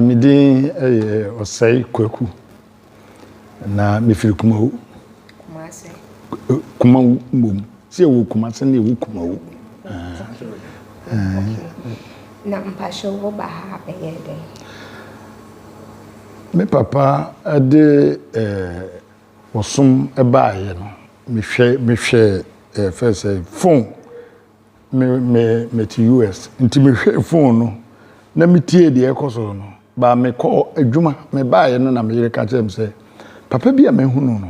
Me din yɛ Ɔsɛe Kwaku, na mefiri Kumawu. Kumawu mmom. Sɛ yɛwɔ Kumase na yɛwɔ Kumawu. Na mpakyɛ wo ba ha bɛyɛ dɛn? Me papa de eh. Ɔsom baeɛ no, mehwɛ mehwɛɛ ɛɛ fɛn sɛ phone me me mete US nti mehwɛɛ phone no na metie deɛ ɛkɔ so no baa mekɔɔ adwuma mebaeɛ no na me yere ka kyerɛ me sɛ papa bi a mahunu no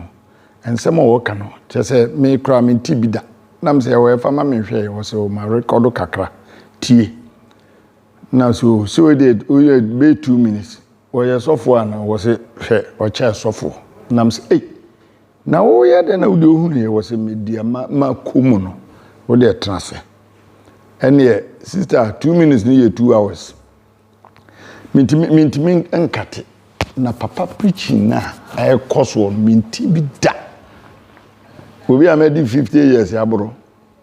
nsɛm a ɔka no kyerɛ sɛ me koraa mente bi da nam sɛ ɛwɔ ɛfa ma menhwɛɛ ɔsɛ ɔma rekɔdo kakra tie Na so sɛ wei deɛ woyɛ bɛyɛ two minutes wɔyɛ sɔfo a na wɔsɛ hwɛ ɔkyɛ sɔfo nam sɛ ei na woyɛ dɛ na wode wohunuɛ wɔ sɛ medeɛ ma ma kɔ mu no wodeɛ tena sɛ ɛneɛ sister two minutes no yɛ two hours mentimi mentimi nkate na papa preaching no a ɛkɔ soɔ no menti bi da obi a mɛdi fifty years aboro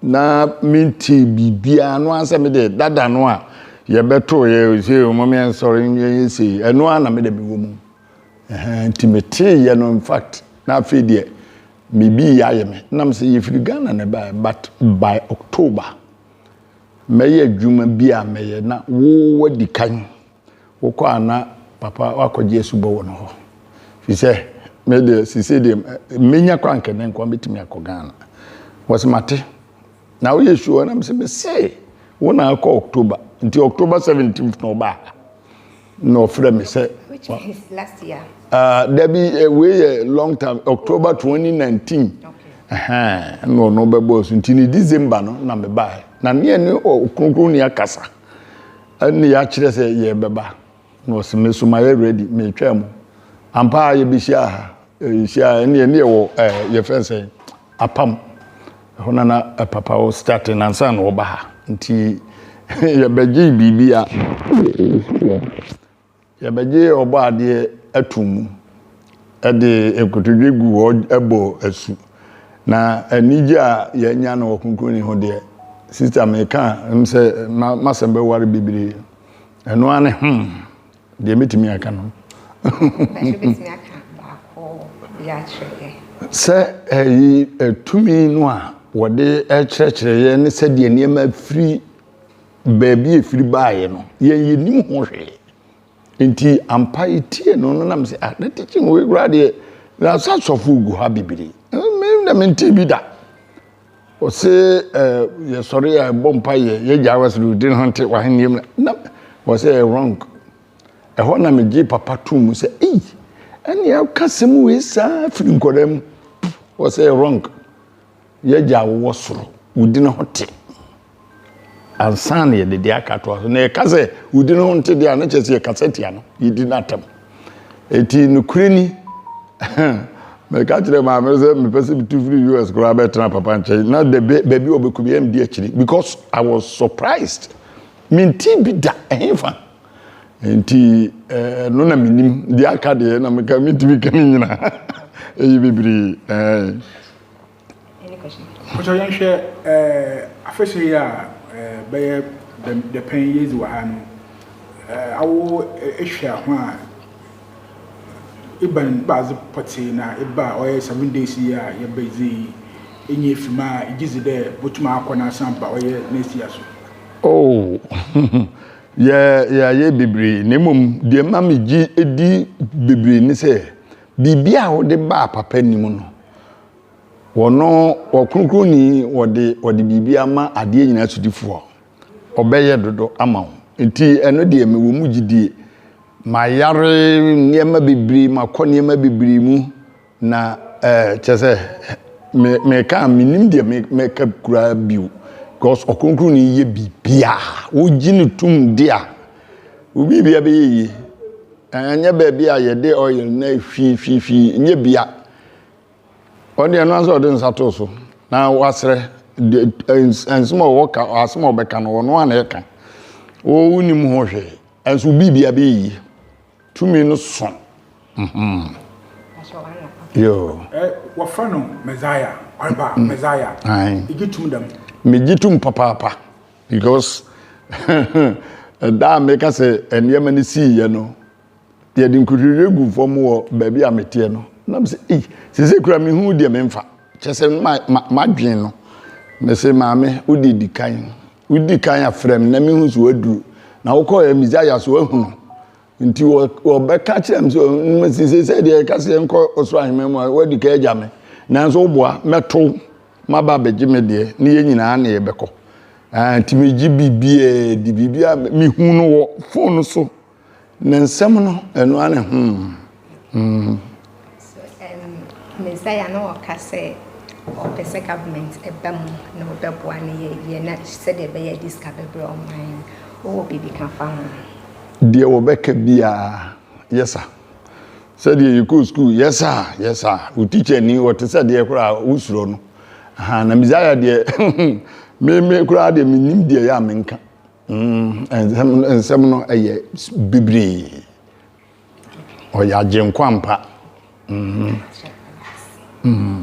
na mentee biribiara no ara sɛ mede dada no a yɛbɛtoo yɛ sɛ ɔma me nsɔre nyɛ sei ɛno ara na mede mewɔ mu nti metee yɛ no in fact na afei deɛ mebi yɛ ayɛ me nam sɛ yɛfiri Ghana na ɛbaɛ but by October mɛyɛ adwuma bi a mɛyɛ na wowadi kan Wokɔ a na papa woakɔgye asubɔ wɔ no hɔ. Firi sɛ me deɛ sisei deɛ mɛnya kɔ anka nɛ nkoa mɛtumi akɔ Ghana. Wɔse mate na woyɛ sure na mese mese wo na akɔ October nti October 17th na ɔbaa ha na ɔfrɛ me sɛ Which is last year? Uh, dabi eh, wei yɛ long time October 2019 okay. na ɔno bɛbɔɔ so nti ne December no na mebaa na neɛ ne ɔkronkron ni akasa Ɛnna yɛakyerɛ sɛ yɛrebɛba, na ɔse, Me so mayɛ ready, meretwɛn mo. Ampa ara yɛbɛhyiaa ha. Yɛhyiaa, ɛnna yɛne yɛwɔ ɛɛ yɛfrɛ no sɛn? Apam. Ɛhɔ na na papa wɔ starting ansa na ɔreba ha. Nti yɛbɛgyee biribi a. Yɛbɛgye Ɔbɔadeɛ atom mu de nkotodwe gu hɔ bɔ asu. Na anigye a yɛanya no wɔ Kronkronni ho deɛ, sista meka m sɛ m'asɛm bɛware bebree. Ɛno ara ne hmm deɛ mɛtumi aka no. Ɛnde wobɛtumi aka baako bi akyerɛ yɛn? Sɛ ɛyi tumi no a wɔde kyerɛkyerɛ yɛn ne sɛdeɛ nneɛma firi baabi a ɛfiri baeɛ no, yɛn yɛnnim ho hwee. Nti ampa yɛtie no no nam sɛ, ah, na teaching wei koraa deɛ, na sɛ asɔfo gu ha bebree. Me na mentee bi da. Ɔse eh, yɛsɔre a ɛbɔ mpa yɛ, yɛgya wa sɛ din ho nte wahenneɛm na, na wɔsɛ ɛyɛ wrong. Ɛhɔ na megye papa too mu sɛ, ei, ɛne ɛka sɛm wei saa firi nkɔdaa mu. Wɔsɛ ɛyɛ wrong. Y'Agya a wowɔ soro, wo din ho te. Ansa na yɛde deɛ aka atoa so. Na yɛka sɛ wo din ho nte deɛ a, na kyerɛ sɛ yɛkasa tia no, yɛdi no atɛm. Eti nokorɛ ni, meka kyerɛ maame no sɛ mepɛ sɛ metu firi US koraa bɛtena papa nkyɛn na the ba- baabi a ɔbɛkɔ biara medi akyiri because I was surprised. Mentee bi da, ɛhefa? Enti eh, ɛno na menim. Deɛ aka deɛ na meka mentumi ka ne nyinaa. Ɛyɛ bebree. Eh. Any question? Mpakyɛw yɛnhwɛ afahyɛ yi a bɛyɛ dapɛn yi edzi wɔ ha no, awo ehwɛ ho a ebɛn adze pɔtsee na eba a ɔyɛ seven days yi a yɛbedzi yi enya efi mu a igyedzi dɛ dɛ botum akɔ na asan aba ɔyɛ next year so? Oh, yɛayɛ beberee na mbom deɛ ɛma megye di beberee ne sɛ biribiara a wode ba a papa nni mu no, Wɔno Ɔkronkronni, wɔde wɔde biribi ama adeɛ nyinaa sodifoɔ. Ɔbɛyɛ dodo ama wo. Nti ɛno deɛ mewɔ mu gyidie. Mayare nneɛma bebree, makɔ nneɛma bebree mu. Na ɛɛ kyɛ sɛ me meka a menim deɛ me mɛka koraa bio. Because Ɔkronkronni yɛ biribiara. Wogye no tom di a, wo biribiara bɛyɛ yie. Ɛnyɛ baabi a yɛde oil na ɛhwii hwii hwii, ɛnyɛ bia. ɔde ɛno ara sɛ ɔde nsa to so na wasrɛ nsɛm a ɔwɔ ka asɛm a ɔbɛka no ɔno a na ɛka wonim ho hwee ɛnso biribi abɛyi tumi no so mhm. yoo eh, wɔfrɛ no messiah ɔreba mm. messiah ɛgye tum dɛm megye tum papaapa because ɛda a meka sɛ nneɛma no siiɛ no Yɛde nkotodwe gu fam wɔ baabi a meteɛ no. Na mese, ei, sese kura mehu wo deɛ memfa. Kyɛ sɛ ma, ma, madwen no. Mese, maame, wo deɛ di kan. Wo di kan a frɛ me na mehu so aduru. Na wokɔ yɛ Messiah so ahunu. Nti wɔ, wɔbɛka kyerɛ me sɛ, mese, sese deɛ yɛka sɛ yɛnkɔ ɔsoro ahemman mu a, woadi kan agya me. Nanso woboa, mɛtow, maba abɛgye me deɛ, ne yɛn nyinaa ne yɛbɛkɔ. Ɛɛ, nti megye biribiara di, biribiara, mehu no wɔ fon so. Ne nsɛm no, ɛno ara ne hmm. Messiah no ɔka sɛ ɔpɛ sɛ government ɛba mu na ɔbɛboa no yɛyɛ na sɛdeɛ ɛbɛyɛ de sika bɛbrɛ ɔman no wowɔ biribi ka fa ho deɛ wɔbɛka biara yɛsa sɛdeɛ yɛkɔɔ sukuu yɛsa yɛsa wo tikya ni wɔte sɛ deɛ koraa wosurɔ no na messiah deɛ meme koraa deɛ menim deɛ yɛ a menka Mm, nsɛm no ɛyɛ bibiri. Ɔyɛ agyenkwa mpa. Mm. Mm.